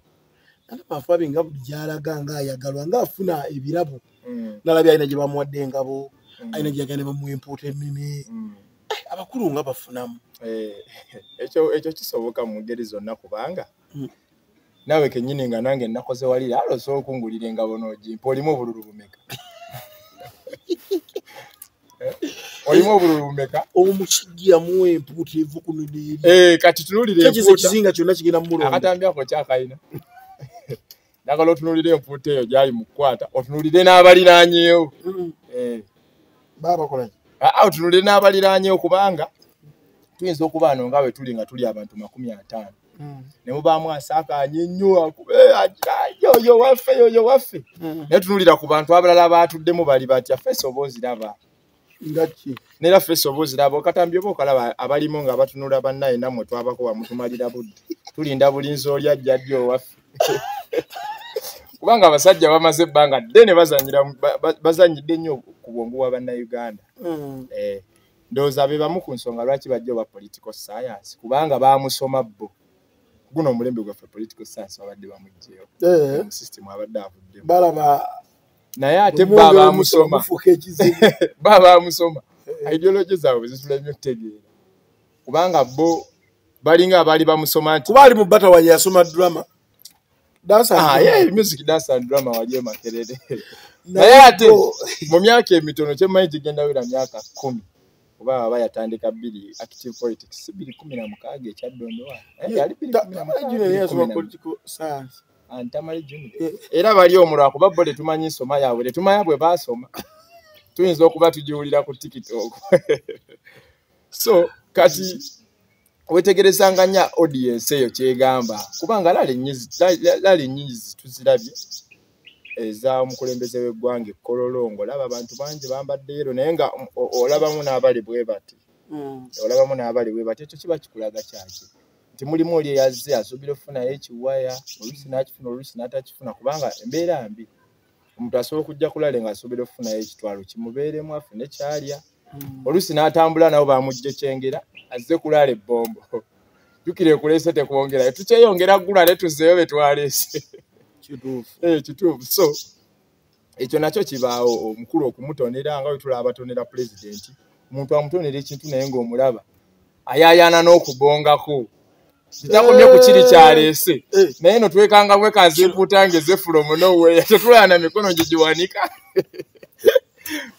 namafabi nga buli gyalaga nga ayagalwa nga afuna ebirabo mm. nalabye alina gye bamuwadde engabo mm. alina gyeyagala ne bamuwa empuuta emmimi mm. eh, abakulu nga bafunamu eh, ekyo kisoboka mu ngeri zonna kubanga naawe kenyini nga nange nakoze walira alo osobola okungulira engabo noogimpa olimu obululu bumeka Eh, olimu obululu bumeka omusajja yamuwa empuuta eva kuno neeri eh, kati tunulira empuuta ekizinga kyonna kigenda mu mulonda akatambi ako kyakayina njagala otunulire empuuta eyo gyali mu kukwata otunulire n'abaliranyewo eh. babakolaki ah, ah, otunulire n'abaliranyewo kubanga tuyinza okuba ano nga bwe tuli nga tuli abantu makumi ataano hmm. ne mubaamu asakaanye nnyo akube yoyo waffe yoyo waffe hmm. naye tunulira ku bantu abalala abaatuddemu bali batya feesi oba oziraba ngaki neera feesi oba oziraba okatambi oba okalaba abalimu nga batunula bannaye nammwe twabako wamutumalira budde tulinda bulinzi oli ajja ddi owaffe kubanga abasajja bamaze ebbanga ddene bazanyidde nnyo ku bwongu bwa bannayuganda hmm. eh. ndowooza be bamu ku nsonga lwaki bajja oba political science kubanga baamusoma bbo guno omulembe gwaffe political science babadde bamugjeyo eh. musystem abadde avuddemu balaba naye ate ba baamusoma ba baamusoma eh. ideology zaabwe zisula nnyo okutegeera kubanga bo balinga abaali bamusoma nti kuba ali mu batawa yeyasoma drama Dance and Ah, yeah, drama. music dance and drama waliyo makerere Naye naye ate bro, mu myaka emitono kyemanyi gigenda wera myaka kumi oba aba yatandika bbiri active politics si bbiri kumi na mukaaga ekyadondowa Eh, yali bbiri ta- kumi na Tamale mukaaga, Junior bbiri yasoma kumi na- political science. Ah, Tamale Junior. Eh. era bali omu lwakuba bo tetumanyi nsoma yaabwe tetumanya bwe baasoma tuyinza okuba tugiwulira ku tiktok so kati wetegerezanga nya audience eyo kyegamba kubanga lali nyizi lali nyizi tuzirabye eza omukulembeze w'eggwanga ekkololongo olaba abantu bangi bambadde yero naye nga olabamu n'abali bwe bati mm. olabamu n'abali bwe bati ekyo kiba kikulaga kyaki nti mulimu oli eyazze asuubira okufunayo ekiwaya oluusi n'akifuna oluusi n'atakifuna kubanga embeera mbi omuntu asobola okujja kulale nga asobera okufunayo ekitwalo kimubeeremu afune kyalya hmm. oluusi n'atambula nabo bamujja ekyengera azze kulala ebbombo jukira ekulese tekwongerayo tukyeyongera gula ne tuzeeyo betwaleese kituufu eh, so ekyo nakyo kibaawo omukulu okumutonera nga wetulaba batonera pulezidenti omuntu amutonera ekintu naye ngaomulaba ayayana n'okubongako kitagumye ku kiri kyaleese eh, eh. naye no twekanga bwekazi empuuta nga ezefulo munoweya tetulana mikono gye giwanika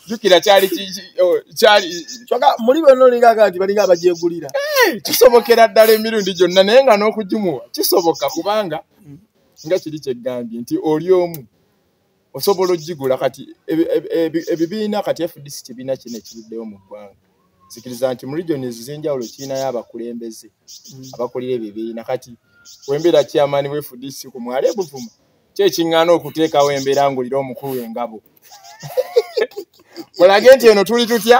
jukira kyali oh, kyali kyoka muli bonna olinga aga nti balinga abagyegulira eh, kisobokera ddala emirundi gyonna naye nga n'okugimuwa kisoboka kubanga nga kiri kyegambye nti oli omu osobola okugigula kati ebibiina kati fdc kibiina kino ekiruddewo mu ggwanga zikiriza nti mu region ezizenjawulo kirinayo abakulembeze mm. abakulira ebibiina kati wembeera kyamaani we fdc ku mwala ebuvuma kyekiŋŋaana okuteekawo embeera ngulira omukulu engabo olage nti eno tuli tutya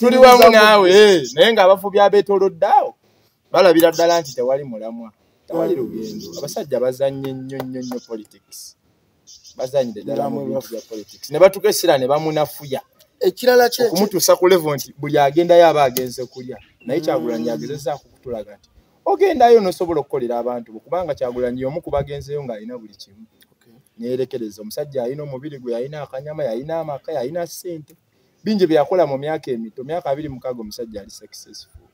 tuli wamu naawe eh, naye ng'abafubi abeetoloddeawo balabira ddala nti tewali mulamwa tewali lugendo abasajja bazanye nnyo nnyo nnyo politics bazanyire ddala mu bintu bya politics ne batuka essira ne bamunafuya ekirala kye okumutuusa ku levo nti buli agendayo aba agenze kulya naye mm. kyagulanyi agezezaako okutulaga nti ogendayo nosobola okukolera abantu bo kubanga kyagulanyi yomu ku bagenzeyo ng'alina buli kimu neyerekereza omusajja yalina omubiri gwe yalina akanyama yalina amaka yalina ssente bingi byeyakola mu myaka emito myaka abiri mukaaga omusajja ali successful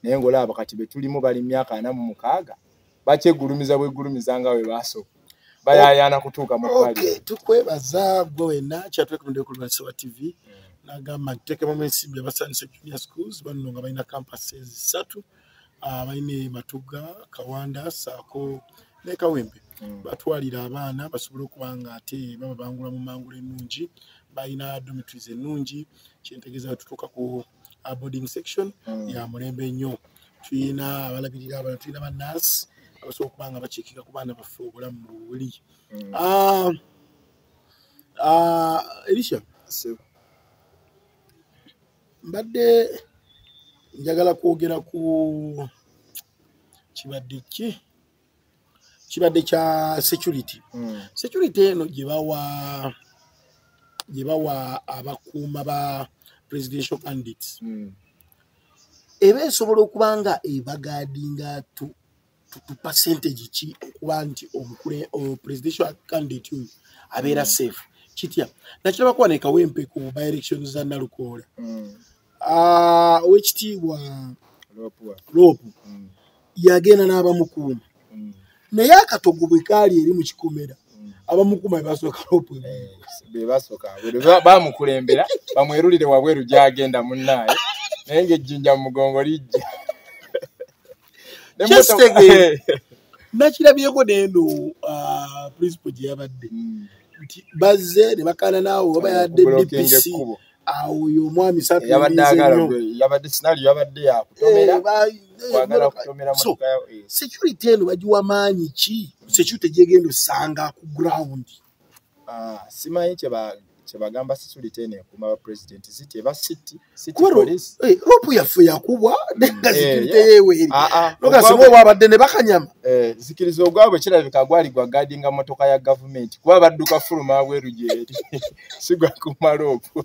naye ngaolaba kati betulimu bali myaka ana mu mukaaga bakyegulumiza bwegulumiza nga we baasooka bayayana kutuuka mu tukwebaza gwe wena kyatwekumdekulwasiwa tv nagamba nti tekemu ensimbi abasanyusa junior schools banno nga balina campuses satu abalina ah, ematugga kawanda saako ne kawempe mm. batwalira abaana basobole okuba nga ate baba bangula mu mangula ennungi balina domitries ennungi kyentegeeza tutuuka ku ah, boarding section mm. ya mulembe nnyo tulina abalabirira abana tulina banansi abasobola okuba nga bakiikika ku baana baffe obulamu buli mm. ah, elisha mbadde njagala kwogera ku kibadde ki kibadde kya security mm. security eno gyebawa gyebawa abakuuma ba presidential candidates mm. eba esobola okuba nga ebagaadinga tu percentage ki okuba nti omukule presidential candidate oyo abeera mm. safe kitya nakiraba kuba nekawempe ku by elections za nalukoola mm. ah, owekitiibwa loopu mm. yagenda n'abamukuuma naye akatogo bwe kaali eri mu kikomera abamukuma bebasooka loopu eh, bebasooka bamukulembera bamwerulire wabweru gyagenda munaaye naye ngaejjinja mu mugongo lijja nakirabyeko neno uh, principal gye yabadde hmm. nti bazze ne bakaana naawe oba yadde dpc awo oyo omwami security eno bagiwa maanyi ki security gyegenda osanga ku ground Ah, simanyi kyebagamba security eno ekuuma ba president city eba city city police eh, ropu yaffe yakubwa nenga eh, security yeweeri ah, ah. nogasima obwabadde ne bakanyama eh, zikiriza ogwabwe kirabika gwali gwa gadinga motoka ya gavumenti kuba badduka fuluma abweru gyeri sigwa kuma ropu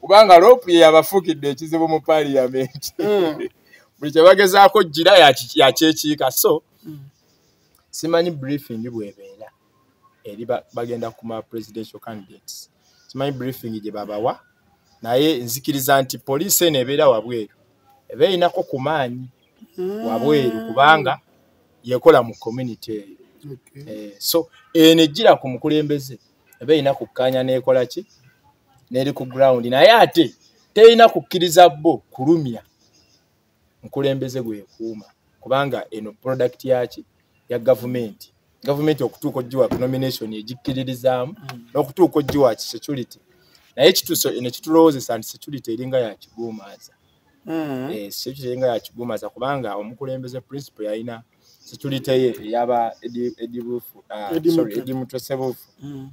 kubanga ropu ye yabafuukidde ekizibu mu paliyamenti hmm. buli kyebagezaako jira yakyekiika so hmm. simanyi briefing bwebeera eri bagenda kuma presidential candidates simanyi briefing gye babawa naye nzikiriza nti poliisi eno ebeera wabweru eba erinako ku maanyi hmm. wabweru kubanga yekola mu community eyo eh, so eno ejjira ku mukulembeze eba erina kukkaanya neekola ki neeri ku ground naye ate terina kukkiriza bo kulumya mukulembeze gwekuuma kubanga eno product yaki ya gavumenti gavumenti okutuuka ogiwa nomination egikkiririzaamu mm. n'okutuuka ogiwa ki security naye kituso eno kitulowozesa nti security eringa yakiguumaaza mm. eh, security eringa yakiguumaaza kubanga omukulembeze principle yalina security ye eyaba edibufu ah, sorry edimutesebufu mm.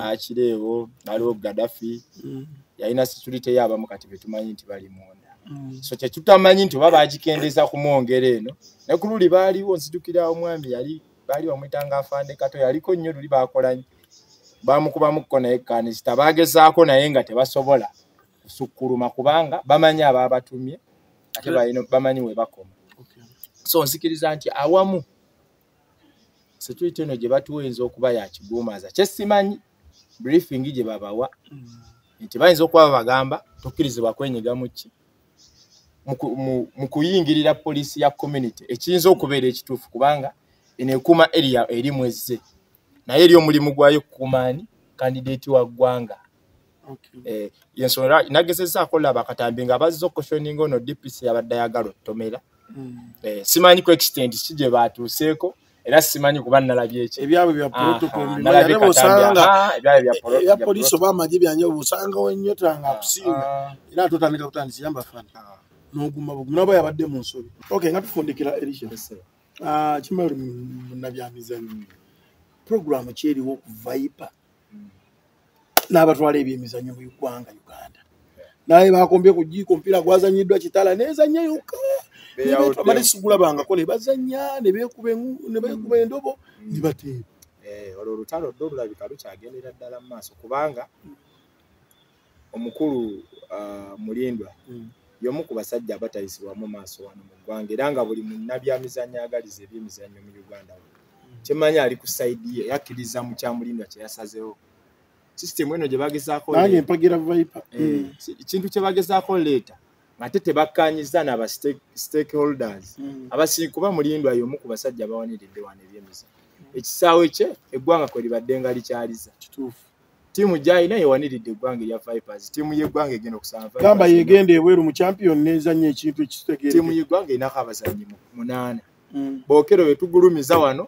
akireewo aliwo gadafi mm. yalina security ye abamu kati betumanyi nti bali munda mm. so kyetutamanyi nti oba bagikendeza kumwongera eno naye ku luli baaliwo nzijukira omwami yali baali bamwetanga afande kato yaliko nnyo luli bakolanyi bamukubamukuko naye kanisita bagezaako naye nga tebasobola kusukkuluma kubanga bamanyi abaabatumye ate bamanyi we bakoma so nzikiriza nti awamu security eno gye batuwa eyinza okuba yakiguumaaza kyesimanyi briefing gye babawa mm. nti bayinza okuba babagamba tokkirizibwa kwenyiga muki mu kuyingirira poliisi ya community ekiyinza okubeera ekituufu kubanga eno ekuuma eria erimu ezze naye eri omulimu gwayo kukuuma ani kandideeti wa ggwanga eh, yensonga nagezezza akola bakatambi nga bazza okukoshoninga ono dpc yabadde ayagala otomera hmm. eh, simanyi ku extent ki gye baatuuseeko era simanyi kuba nalabye ekyo ebyabwe bya protocol nalabye katambya ah, ebyabwe bya protocol ya police oba amaje byanye obusanga wenyo tanga ah, kusinga ah. era tutandika kutandisa yamba fana noguma buguma nabo yabadde mu nsobi okay ngatufundikira elisha Ah, kimali munabyamizanyo puroguramu kyeriwo ku viper mm. n'abatwala ebyemizanyo mu ugwanga uganda naye bakombye ku jiiko omupiira gwazanyiddwa kitala nezanya yokka bamale sigulabangako ne bazanya ne beekuba mm. endobo mm. ne bateeba eh, olwo olutalo ddo olulabika lukyagendera ddala mu maaso kubanga omukulu uh, mulindwa mm. yomu ku basajja abatayisibwamu maaso wano mu ggwanga era nga buli munnabyamizannyo agaliza ebyemizannyo mu uganda wano kyemanyi ali ku saidi ye yakkiriza mu kyamulindwa kyeyasazewo system eno gyebagezaako empagira vipe eh, hmm. ekintu kyebagezaako leeta ngate tebakkanyiza naba stakeholders hmm. abasii kuba mulindwa yomu ku basajja bawaniridde wano ebyemiza ekisaawe kye eggwanga kwe libadde nga likyaliza tiimu gyalina yewaniridde eggwanga erya vipers tiimu yeggwanga egenda okusaagamba yegenda ebweru mu champion nezanya ekintu ekitegeetiimu yeggwanga erinako abazanyi munaana mm. bokero betugulumiza wano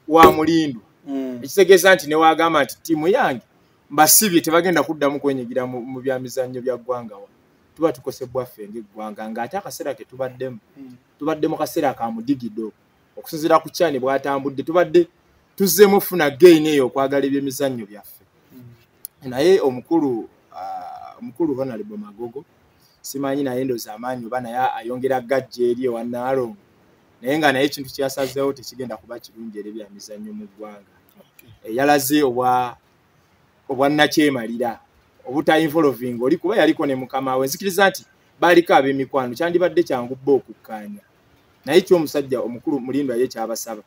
wa mulindu mm. ekitegeeza nti newagamba nti tiimu yange mbasibye tebagenda kuddamu kwenyigira mu bya mizannyo bya ggwanga wa tuba tukosebwa ffe ngaeggwanga ng'ate akaseera ke tubaddemu mm. tubadde mu kaseera ka mudigido okusinzira ku kyane bwatambudde tubadde tuzzemu funa gain eyo okwagala ebyemizannyo byaffe mm. naye omukulu uh, omukulu honalebo magogo simanyi naye ndoza amaanyi oba naye ayongera gajja eri ewanaalongo naye nga naye ekintu kyasazeewo tekigenda kuba kirungi eri byamizannyo mu ggwanga eh, yalaze obwannakyemalira obutainvolving oli kuba yaliko ne mukama we nzikiriza nti baaliko ab'emikwano kyandibadde kyangu bba okukkaanya naye kyomusajja omukulu mulindo aye kyabasaba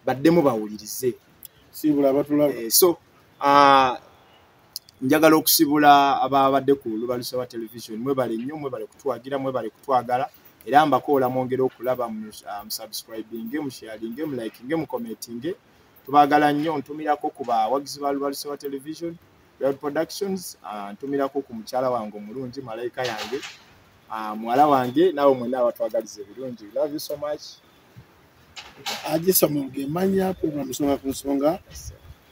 baddemu bawulirize sibula batulaba eh, so uh, njagala okusibula ababadde ku lubalusa wa television mwebale nnyo mwebale kutwagira mwebale kutwagala era mbakoola mwongere okulaba ah, musubscribinge musharinge mulikinge mucommentinge tubagala nnyo ntumirako ku bawagizi ba lubalusa wa television productions ah, ntumirako ku mukyala wange omulungi malayika yange Ah, muwala wange naawe mwena abatwagaliza ebirungi love you so much agisoma ngemanya program soka ku nsonga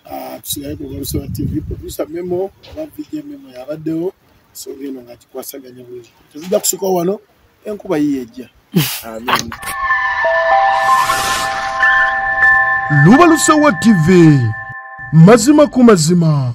ah, tusigale ku balusoba tv producer memo oba vj memo yabaddewo ensonga eno nga kikwasaganya bulungi tezijja kusuka wano enkuba yiye ejja amin lubalusowa tv mazima ku mazima